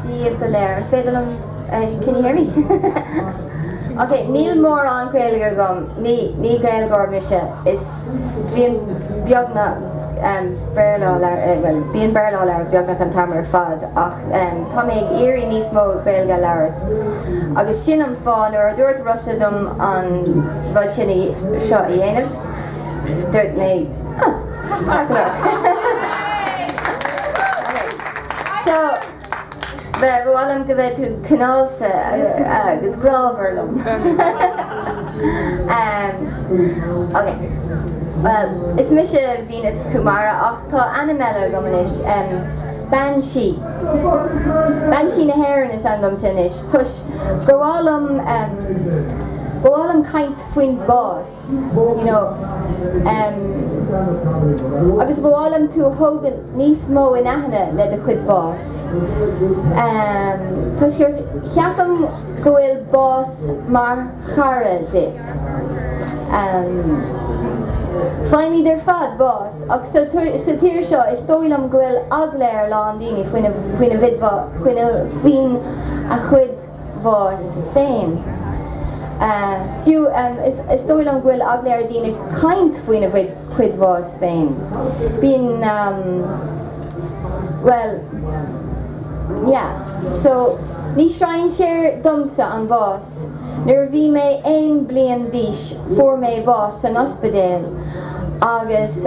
Daoibh go léir. An féidir liom. Can you hear me? Ok, níl mórán Gaeilge agam, ní Gaeilgeoir mise is bíonn beagnach Béarla á labhairt, bíonn Béarla á labhairt beagnach an t-am ar fad ach tá mé ag iarraidh níos mó Gaeilge a labhairt agus sin an fáth, nuair a dúirt Rossa dom an rud sin a, seo a dhéanamh, dúirt mé, huh. Is mise Venus Kumara ach tá ainm eile agam anois, Bean Sí. Bean Sí na hÉireann is ainm domsa anois toisc gur mhaith liom, ba mhaith liom caint faoin bhás. you know em agus ba mhaith liom tú a thógáil níos mó in aithne le do chuid báis em toisc gur cheapaim go bhfuil bás mar chara duit em faighimid ar fad bás ach sa sa tír seo is dóigh liom go bhfuil eagla ar a lán daoine faoina faoina bhfaigheadh faoin a chuid bás féin. Fiú is dóigh liom go bhfuil eagla ar dhaoine caint faoina bhfuid chuid bás féin. Bíonn bhuel yeah so ní strainséir domsa an bás. Nuair a bhí mé aon bliain d'aois fuair mé bás san ospidéal agus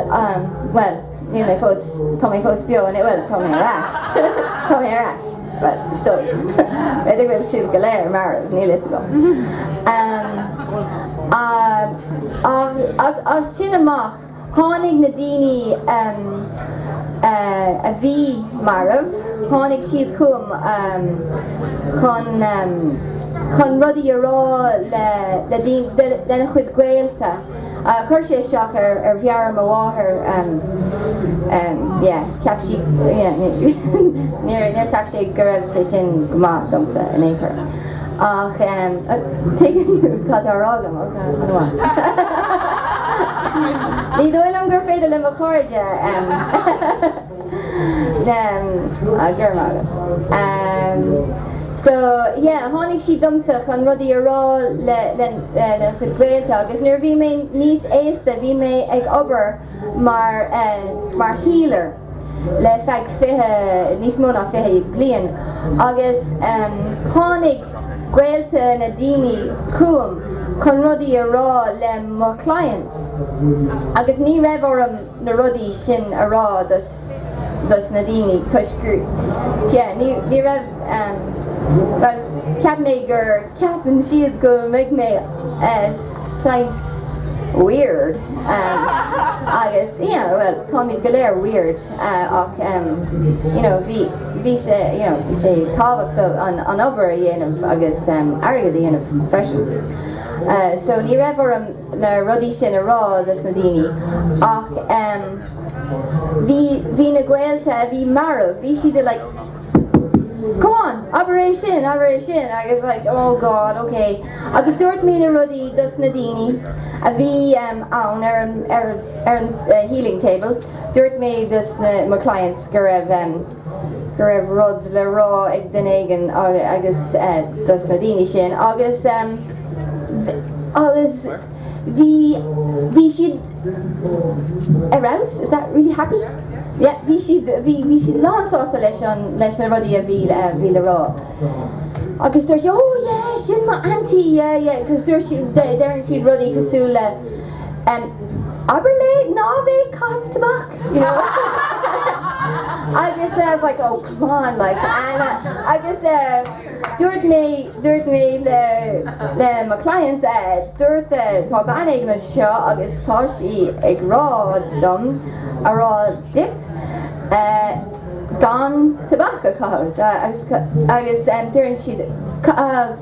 bhuel. Níl mé fós, tá mé fós beo anois, bhuel, tá mé ar ais, tá mé ar ais, bhuel, is dóigh, b'fhéidir go bhfuil sibh go léir marbh, níl a fhios agam. Ach as sin amach, tháinig na daoine a bhí marbh, tháinig siad chugam chun rudaí a rá lena chuid gaolta. Chuir sé isteach ar mheabhair mo mháthar, yeah, cheap sí, yeah, níor cheap sé go raibh sé sin go maith domsa in aon chor. Ach tuigeann tú cad atá á rá agam, ok, an bhfuil? Ní dóigh liom gur féidir le mo chairde. So, yeah, tháinig siad domsa chun rudaí a rá lena chuid gaolta agus nuair a bhí mé níos aosta bhí mé ag obair mar healer le feadh 20, níos mó ná 20 bliain agus tháinig gaolta na daoine chugam chun rudaí a rá le mo clients agus ní raibh orm na rudaí sin a rá dos na daoine toisc yeah ní ní raibh em bhuel cheap mé gur ceapann siad go mbeidh mé eh saghas weird em agus you know bhuel táimid go léir weird eh ach em you know bhí bhí sé you know bhí sé tábhachtach an an obair a dhéanamh agus em airgead a dhéanamh freisin eh so ní raibh orm na rudaí sin a rá dos na daoine ach em bhí bhí na gaolta a bhí marbh bhí siad like come on abair é sin abair é sin agus like oh God ok agus dúirt mé na rudaí dos na daoine a bhí em ann ar an ar an healing table dúirt mé dos na mo clients go raibh em go raibh rud le rá ag duine éigin agus dos na daoine sin agus agus bhí bhí siad ar fheabhas is that really happy yeah bhí siad bhí bhí siad lán sásta leis an leis na rudaí a bhí bhí le rá agus dúirt sé oh yeah sin mo aunty yeah yeah cos dúirt sí deireann siad rudaí cosúil le abair léi ná bheith ag caitheamh tobac you know agus I was like oh come on like and agus dúirt mé dúirt mé le le mo clients dúirt tá bean éigin anseo agus tá sí ag rá dom a rá duit gan tobac a chaitheamh agus agus deireann siad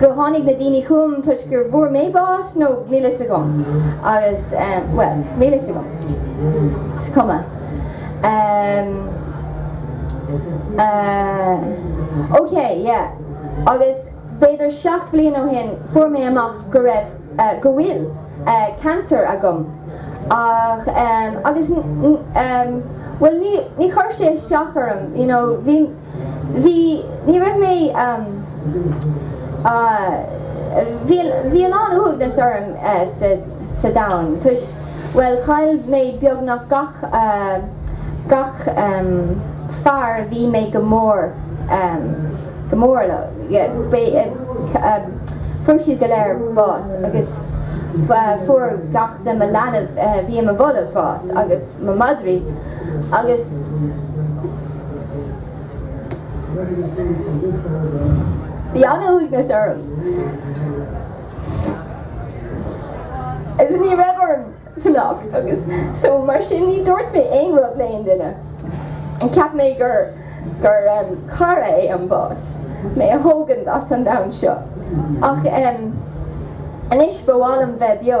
go tháinig na daoine chugam toisc gur bhfuair mé bás nó níl fhios agam agus bhuel níl fhios agam is cuma ehm eh ok yeah agus b'fhéidir seacht bhliain ó shin fuair mé amach go raibh eh go bhfuil eh cancer agam ach ehm agus ehm bhuel ní chur sé isteach orm you know bhí Bhí, ní raibh mé, bhí, bhí a lán uaigneas orm sa domhan toisc, bhuel, chaill mé beagnach gach, gach fear a bhí mé go mór, go mór le, fuair siad go léir bás agus fuair gach de mo leanbh a bhí i mo bholg bás agus, mo mhadraí agus bhí an-uaigneas orm agus ní raibh orm fanacht agus so mar sin ní dúirt mé aon rud le aon duine. Cheap mé gur gur cara é an bás mé a thógaint as an domhan seo ach anois ba mhaith liom bheith beo.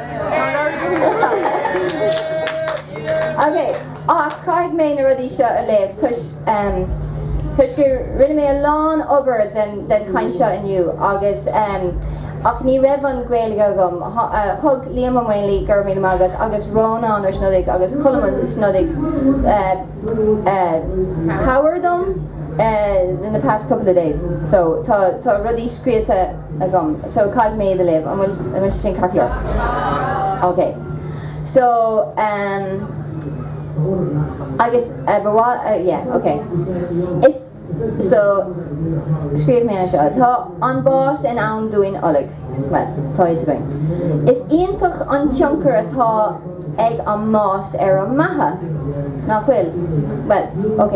Ok, ach caithfidh mé na rudaí seo a léamh toisc toisc go rinne mé a lán obair den den chaint seo inniu agus ach ní raibh an Ghaeilge agam. Thug Liam Ó Maonlaí, go raibh míle maith agat, agus Rónán Ó Snodaigh agus Colm Ó Snodaigh cabhair dom in the past couple of days. So tá tá rudaí scríobhta. agam so caithfidh mé iad a léamh. An bhfuil an bhfuil sé sin ceart go leor? Ok so ehm agus eh ba mhaith eh yeah ok is so scríobh mé anseo Tá an bás i ndán dúinn uilig. Bhuel tá fhios againn. Is iontach an tionchar atá ag an mbás ar an mbeatha nach bhfuil? Bhuel ok.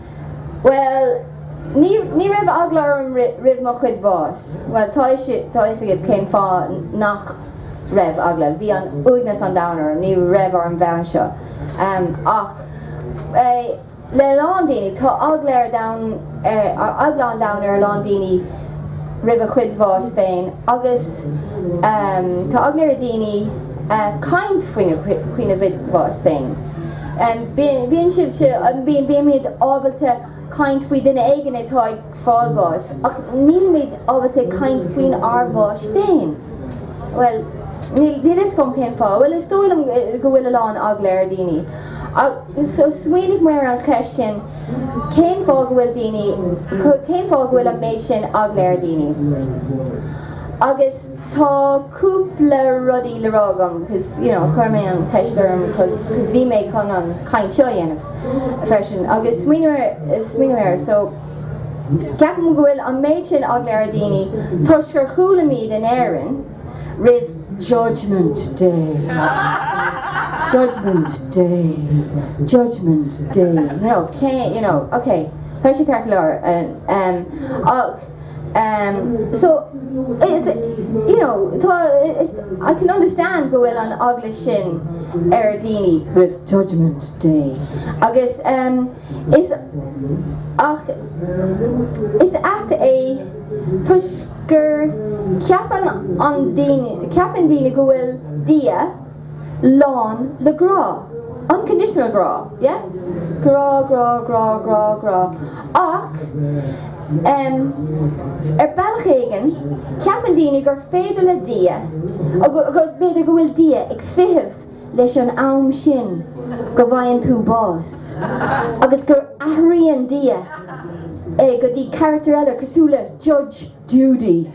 Bhuel, ní, ní raibh eagla orm roimh mo chuid bás. Bhuel, tá fhios, tá fhios agaibh cén fáth nach raibh eagla. Bhí an, uaigneas an domhain orm, ní raibh orm bheith anseo. Ach le a lán daoine, tá eagla ar domhan, eagla an domhain ar a lán daoine roimh a chuid bhás féin agus tá eagla ar dhaoine caint faoina, faoina gcuid bás féin. Bíonn sibh, bímid, ábalta caint faoi duine éigin atá ag fáil bháis ach nílimid ábalta caint faoinár bhás féin. Bhuel, níl fhios agam cén fáth. Bhuel, is dóigh liom go bhfuil a lán eagla ar daoine. So, smaoinigh mé ar an cheist sin, cén fáth go bhfuil daoine, cén fáth go bhfuil an méid sin eagla ar daoine? Agus tá. cúpla rudaí le rá agam cos you know chuir mé an cheist orm cos bhí mé chun an chaint seo a dhéanamh freisin agus smaoineamh ar smaoineamh air so ceapaim go bhfuil an méid sin eagla ar daoine toisc gur chualaimid in Éirinn roimh judgement day judgement day judgement day you know cé you know ok tá sé ceart go leor and ach so is you know tá is I can understand go bhfuil an eagla sin ar daoine roimh judgement day agus is ach is at é toisc gur ceapann an daoine ceapann daoine go bhfuil Dia lán le grá, unconditional grá, yeah? grá, grá, grá, grá, grá, ach em ar bhealach éigin ceapann daoine gur féidir le Dia, agus b'fhéidir go bhfuil Dia ag feitheamh leis an am sin go bhfaigheann tú bás agus gur athraíonn Dia go dtí carachtar eile cosúil le Judge, Judy,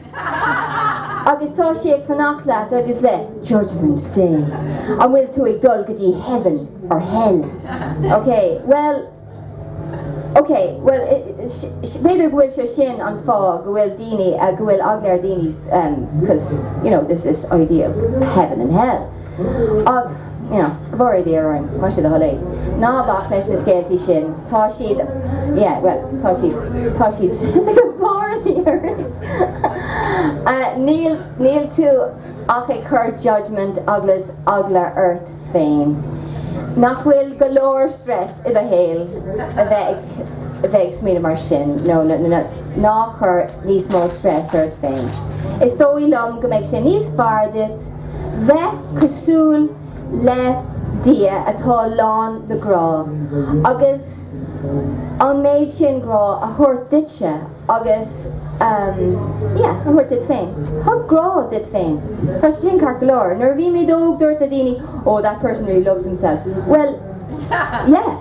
Agus tá sé ag fanacht leat agus le judgement day. An bhfuil tú ag dul go dtí heaven or hell? Ok, bhuel, ok, bhuel, b'fhéidir go bhfuil sé sin an fáth go bhfuil daoine, go bhfuil eagla ar daoine, because, you know, there's this idea of heaven and hell. Ámh, yeah, bhfóire Dia orainn, más é do thoil é. Ná bac leis na scéaltaí sin, tá siad, yeah, bhuel, tá siad, tá siad go bhfóire Dia orainn. Níl, níl tú ach ag cur judgement agus eagla ort féin. Nach bhfuil go leor stress i do shaol a bheith ag, a bheith ag smaoineamh mar sin, nó na, na, ná chuir níos mó stress ort féin. Is dóigh liom go mbeidh sin níos fearr duit. Bheith cosúil le Dia atá lán le grá agus an méid sin grá a thabhairt duitse agus ehm yeah, a thabhairt duit féin. Thug grá duit féin. Tá sé sin ceart go leor. Nuair a bhí muid óg dúirt na daoine, oh that person really loves himself. Bhuel yeah.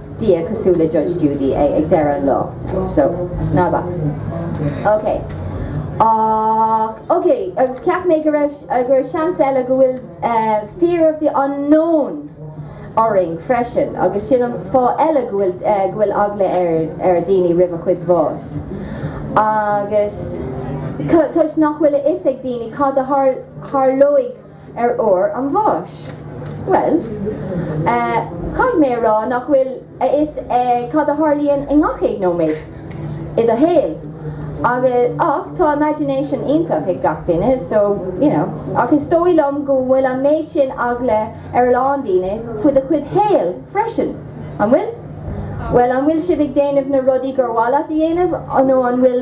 Dia cosúil le Judge Judy ag deireadh an lá so ná bac. Ok Ach ok agus cheap mé gur gur seans eile go bhfuil fear of the unknown orainn freisin agus sin an fáth eile go bhfuil go bhfuil eagla ar ar daoine roimh a chuid bhás agus toisc nach bhfuil a fhios ag daoine cad a tharlóidh ar uair an bháis? Bhuel eh. caithfidh mé a rá nach bhfuil a fhios eh cad a tharlaíonn i ngach aon nóiméad i do shaol agus ach tá imagination iontach ag gach duine so you know ach is dóigh liom go bhfuil an méid sin eagla ar a lán daoine faoi do chuid shaol freisin. An bhfuil? Bhuel an bhfuil sibh ag déanamh na rudaí gur mhaith leat a dhéanamh nó an bhfuil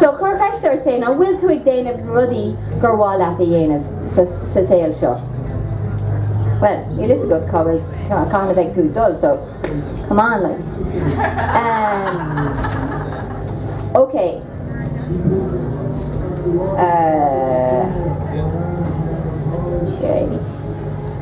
So, cuir ceist ort féin, an bhfuil tú ag déanamh na rudaí gur mhaith leat a dhéanamh sa saol seo? Bhuel, níl fhios agat cá bhfuil, cathain a bheidh tú ag dul, so come on like. Ok. Ahh. Sé.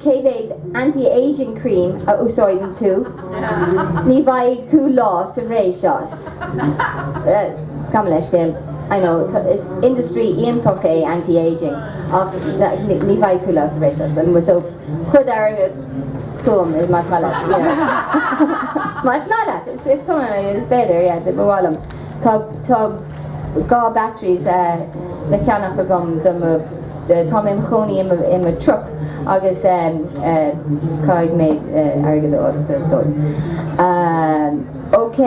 Cé mhéad anti-aging cream a úsáideann tú? Ní bhfaighidh tú lá sa bhreis as. Gabh mo leithscéal, I know, is industry iontach é anti-aging ach ní bhfaighidh tú lá sa bhreis as. So, chuir d'airgead chugam más maith leat, you know. Más maith leat, is cuma, is féidir, yeah, ba mhaith liom. Tá dhá batteries le ceannach agam do mo, tá mé im chónaí i mo truck agus caithfidh mé airgead a fháil dóibh. OK.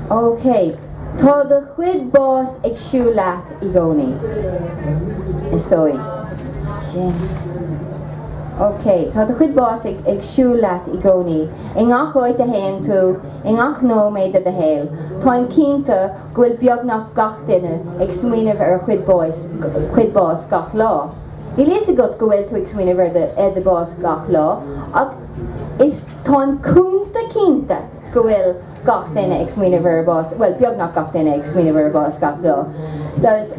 OK. Tá do chuid bás ag siúl leat i gcónaí, is dóigh. OK. Tá do chuid bás ag siúl leat i gcónaí, i ngach áit a théann tú. I ngach nóiméad de do shaol, táim cinnte go bhfuil beagnach gach duine ag smaoineamh ar a chuid bás gach lá. Níl fhios agat go bhfuil tú ag smaoineamh ar do, ar do bás gach lá ach is, táim cúnta cinnte go bhfuil gach duine ag smaoineamh ar a bás, bhuel beagnach gach duine ag smaoineamh ar a bás gach lá. Agus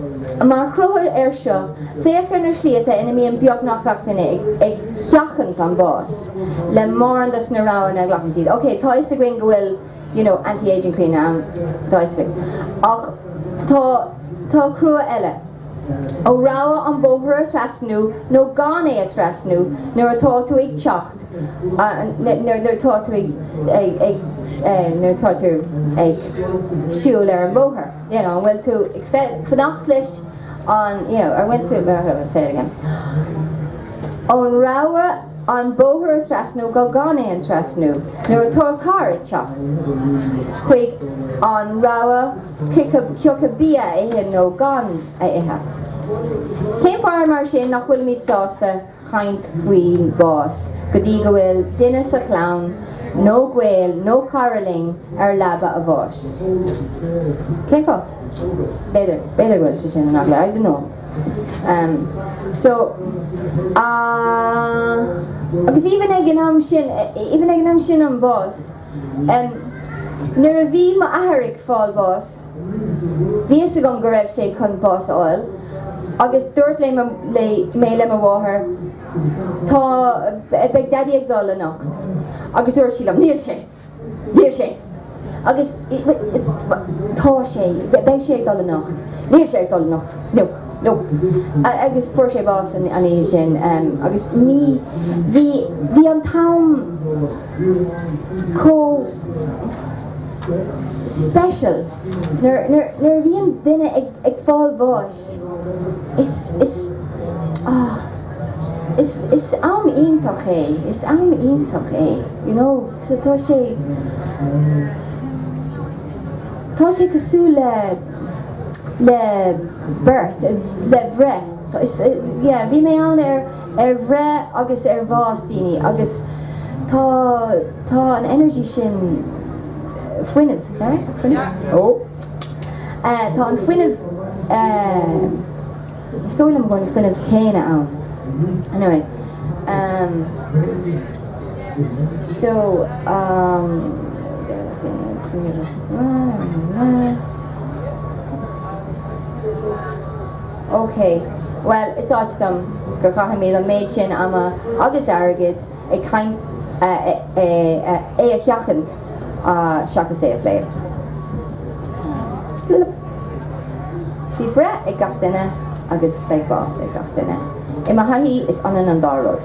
mar chruthú air seo, féach ar na slite ina mbíonn beagnach gach duine ag, ag sheachaint an bás. le mórán dos na roghanna a ghlacann siad. Ok, tá 'fhios againn go bhfuil, you know, anti-ageing cream ann, tá 'fhios againn. Ach tá, tá cruthú eile. Ó rogha an bóthar a thrasnú nó gan é a thrasnú nuair atá tú ag teacht, nuair atá tú ag, ag, ag, nuair atá tú ag siúl ar an bhóthar, you know, an bhfuil tú ag fanacht leis, an, you know, ar bhfuil tú, say it again, ón rogha an bóthar a thrasnú go gan é a trasnú nuair atá carr ag teacht, chuig an rogha cé acu bia a ithe nó gan a ithe. Cén fáth mar sin nach bhfuilimid sásta chaint faoi bhás go dtí go bhfuil duine sa chlann nó gaol nó cara linn ar leaba a bháis. Cén fáth? B'fhéidir, b'fhéidir go bhfuil sé sin amhlaidh, I don't know. Em, so, ah, agus even ag an am sin, even ag an am sin an bás, em, nuair a bhí m'athair ag fáil bháis, Bhí fhios agam go raibh sé chun bás a fháil agus dúirt le le mé le mo mháthair tá beidh daidí ag dul anocht agus dúirt sí liom níl sé níl sé agus tá sé beidh sé ag dul anocht níl sé ag dul anocht no no agus fuair sé bás an oíche sin agus ní bhí bhí an t-am chomh special. Nuair a bhíonn duine ag fáil bháis, is am iontach é, is am iontach é, you know. Tá sé, tá sé cosúil le, le birth, le bhreith. Yeah, bhí mé ann ar ar bhreith agus ar bhás daoine agus tá tá an energy sin, fuinneamh, is that right? fuinneamh? Ó! Eh tá an fuinneamh eh is dóigh liom go bhfuil an fuinneamh céanna ann. Anyway, ehm so ehm daoine ag smaoineamh ar na na na. OK, bhuel, is ait liom go gcaithfimid an méid sin ama agus airgid chun é a sheachaint seachas é a phlé. Bhí breith ag gach duine agus beidh bás ag gach duine. I mo thaithí, is ionann an dá rud.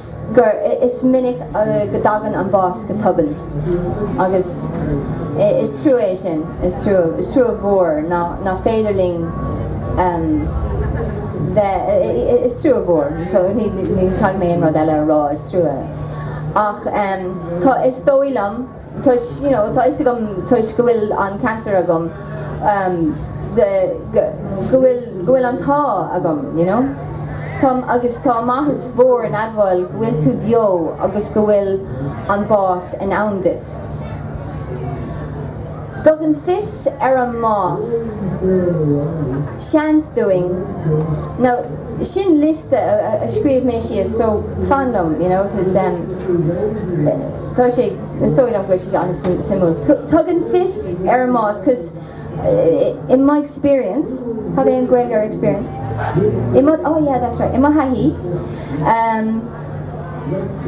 gur is minic go dtagann an bás go tobann agus is trua é sin, is trua, is trua mhór nach féidir linn bheith, is trua mhór, ní chaithfidh mé aon rud eile a rá, is trua, ach tá, is dóigh liom. toisc you know tá 'fhios agam toisc go bhfuil an cancer agam um the go go bhfuil go bhfuil an t-ádh agam you know tá agus tá maitheas mhór in admháil go bhfuil tú beo agus go bhfuil an bás i ndán duit tugann fios ar an mbás seans dúinn now sin liosta a scríobh mé síos so fan liom you know cause um Tá sé, is dóigh liom go bhfuil sé seo an-suim, suimiúil. Tugann fios ar an mbás cos, in my experience, cad é an Gaeilge ar experience? I mo, oh yeah that's right, i mo thaithí, ehm,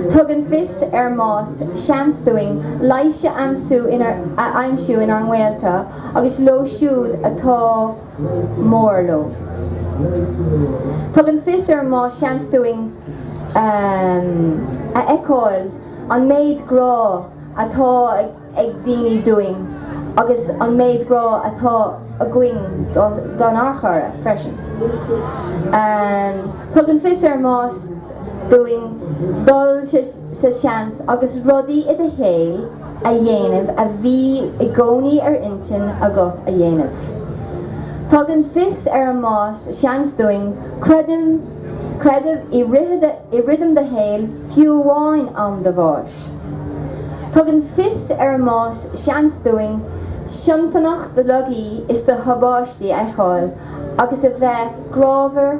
tugann fios ar an mbás seans dúinn leigheas a aimsiú inár, a aimsiú inár ngaolta agus leo siúd atá. mór leo. Tugann fios ar an mbás seans dúinn a fheiceáil an méid grá atá ag daoine dúinn agus an méid grá atá againn don ár chara freisin. Tugann fios ar an mbás dúinn dul sa seans agus rudaí i do shaol, a dhéanamh a bhí i gcónaí ar intinn agat a dhéanamh. Tugann fios ar an mbás seans dúinn creideamh i rithim do shaoil, fiú amháin am do bháis. Tugann fios ar an mbás seans dúinn soineantacht do laigí is do thubaistí a fheiceáil agus a bheith grámhar,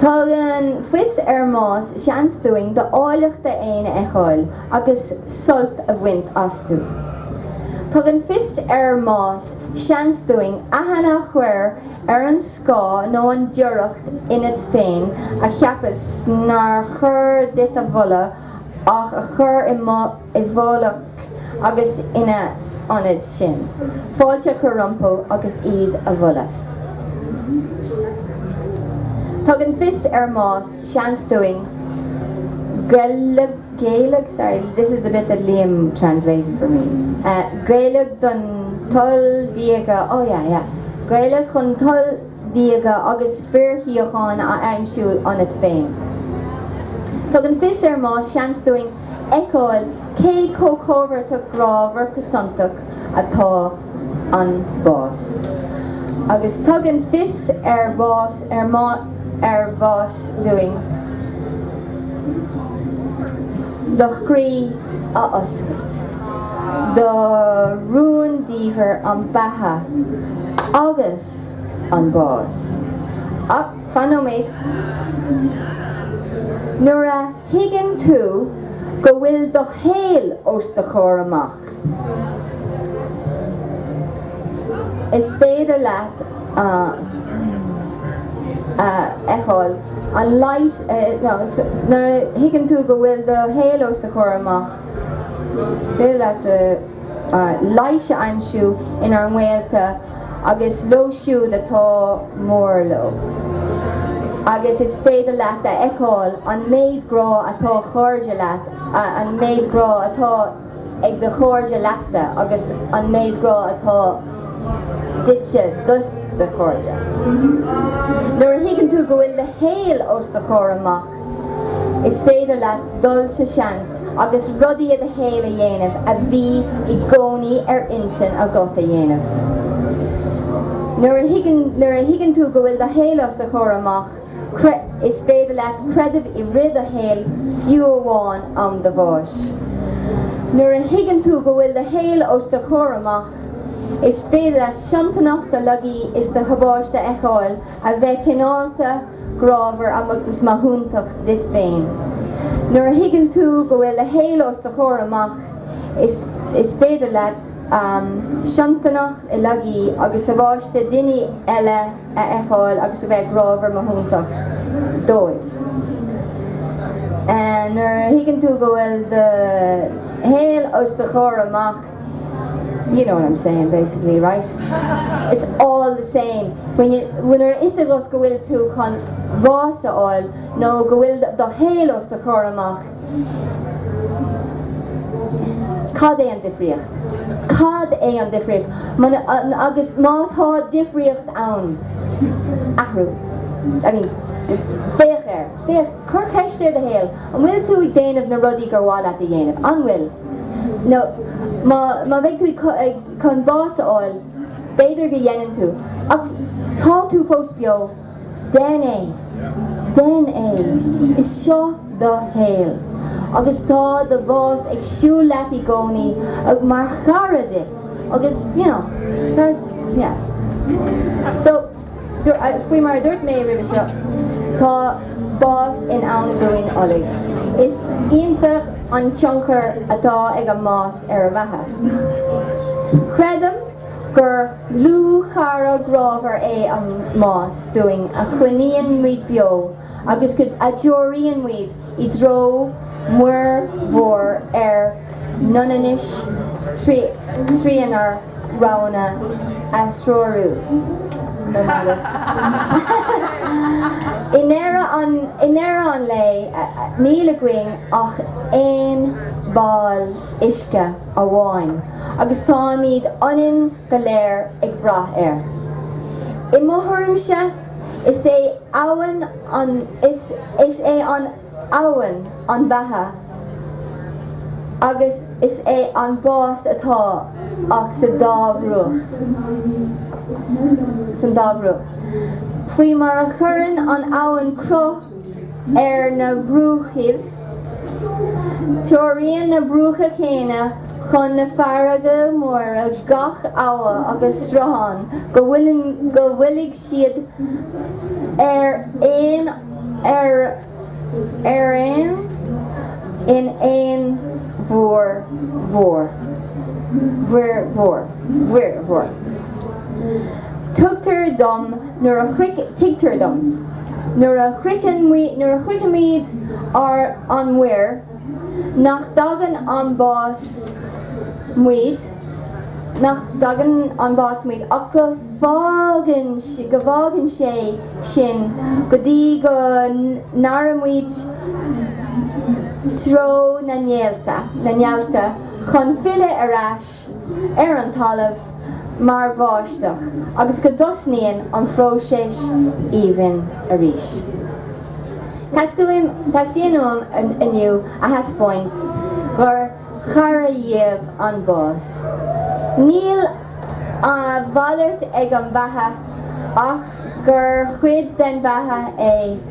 Tugann fios ár mbás seans dúinn d'áilleachtaí féin a fheiceáil agus sult a bhaint astu. Tugann fios ár mbás seans dúinn aithne a chuir ar an scáth nó an doircheacht ionat féin a cheapas nár chóir duit a mholadh ach a chur i i bhfolach agus ina ionad sin, fáilte a chur rompu agus iad a mholadh. Tugann fios ár mbás seans dúinn géilleadh, sorry, this is the bit that Liam translated for me. Géilleadh don toil diaga, oh yeah, yeah, géilleadh chun toil diaga agus fíorshíocháin a aimsiú ionat féin. Tugann fios ár mbás seans dúinn fheiceáil cé chomh comhfhortach grámhar cosantach atá an bás. Agus tugann fios ar bhás ar má ar bhás dúinn do chroí a oscailt do rúndiamhair an beatha agus an bás. Ach fan nóiméad. Nuair a. thuigeann tú go bhfuil do shaol os do chomhair amach, is féidir leat a fheiceáil an leigheas, nó nuair a thuigeann tú go bhfuil do shaol os do chomhair amach, is féidir leat leigheas a aimsiú inár ngaolta. agus leo siúd atá mór leo, agus is féidir leat a fheiceáil an méid grá atá chairde leat, an méid grá atá ag do chairde leatsa agus an méid grá atá duitse do do chairde. Nuair a thuigeann tú go bhfuil do shaol os do chomhair amach, Is féidir leat dul sa seans agus rudaí i do shaol a dhéanamh a bhí i gcónaí ar intinn agat a dhéanamh. Nuair a thuigeann tú go bhfuil do shaol os do chomhair amach, is féidir leat creideamh i rith do shaoil, fiú amháin am do bháis. Nuair a thuigeann tú go bhfuil do shaol os do chomhair amach, is féidir leat soineantacht do laigí is do thubaiste a fheiceáil A bheith cineálta, grámhar agus maithiúntach duit féin. Nuair a thuigeann tú go bhfuil do shaol os do chomhair amach is féidir leat soineantacht laigí agus tubaiste daoine eile a fheiceáil agus a bheith grámhar maithiúntach dóibh. Nuair a thuigeann tú go bhfuil do shaol os do chomhair amach You know what I'm saying basically, right? It's all the same when you, nuair atá a fhios agat go bhfuil tú chun bás a fháil nó go bhfuil do shaol os do chomhair amach, cad é an difríocht? Cad é an difríocht? Agus má tá difríocht ann, athrú. I mean, féach air, féach, cuir ceist ort féin. An bhfuil tú ag déanamh na rudaí gur mhaith leat a dhéanamh? An bhfuil nó má bheidh tú chun bás a fháil, b'fhéidir go ndéanann tú, ach tá tú fós beo, déan é, déan é, is seo do shaol agus tá do bhás ag siúl leat i gcónaí mar chara duit agus you know tá yeah so. Faoi mar a dúirt mé roimhe seo, tá bás i ndán dúinn uilig. Is iontach an tionchar atá ag an mbás ar an mbeatha. Creidim gur dlúthchara grámhar é an mbás dúinn a choinníonn muid beo agus a threoraíonn muid i dtreo muir mhór ár n-ionannais trínár roghanna a threorú. I ndeireadh an lae, níl againn ach aon bhall uisce amháin agus táimid ionann go léir ag brath air. I mo thuairimse, Is é abhainn an is is é an abhainn an bheatha agus is é an bás atá ag sa dá bhruach san dá bhruach. Faoi mar a chuireann an abhainn cruth ar na bruachaibh. Treoraíonn na bruacha chéanna chun na farraige móire gach abha agus sruthán go bhfuilid siad ar aon ar aon in aon mhuir mhór mhuir mhór mhuir mhór. Tugtar dom nuair a shroich tuigtear dom nuair a shroicheann nuair a shroichimid ar an muir nach dtagann an bás muid nach dtógann an bás muid ach go fágann go bhfágann sé sinn go dtí go n-éireoimid treo na néalta na néalta chun filleadh ar ais ar an talamh mar bháisteach agus go dtosnaíonn an phróiseas aoibhinn arís. Teastaíonn uaim inniu a thaispeáint gur cara dúinn an bás. Ní malairt ar an bheatha ach gur cuid den bheatha é.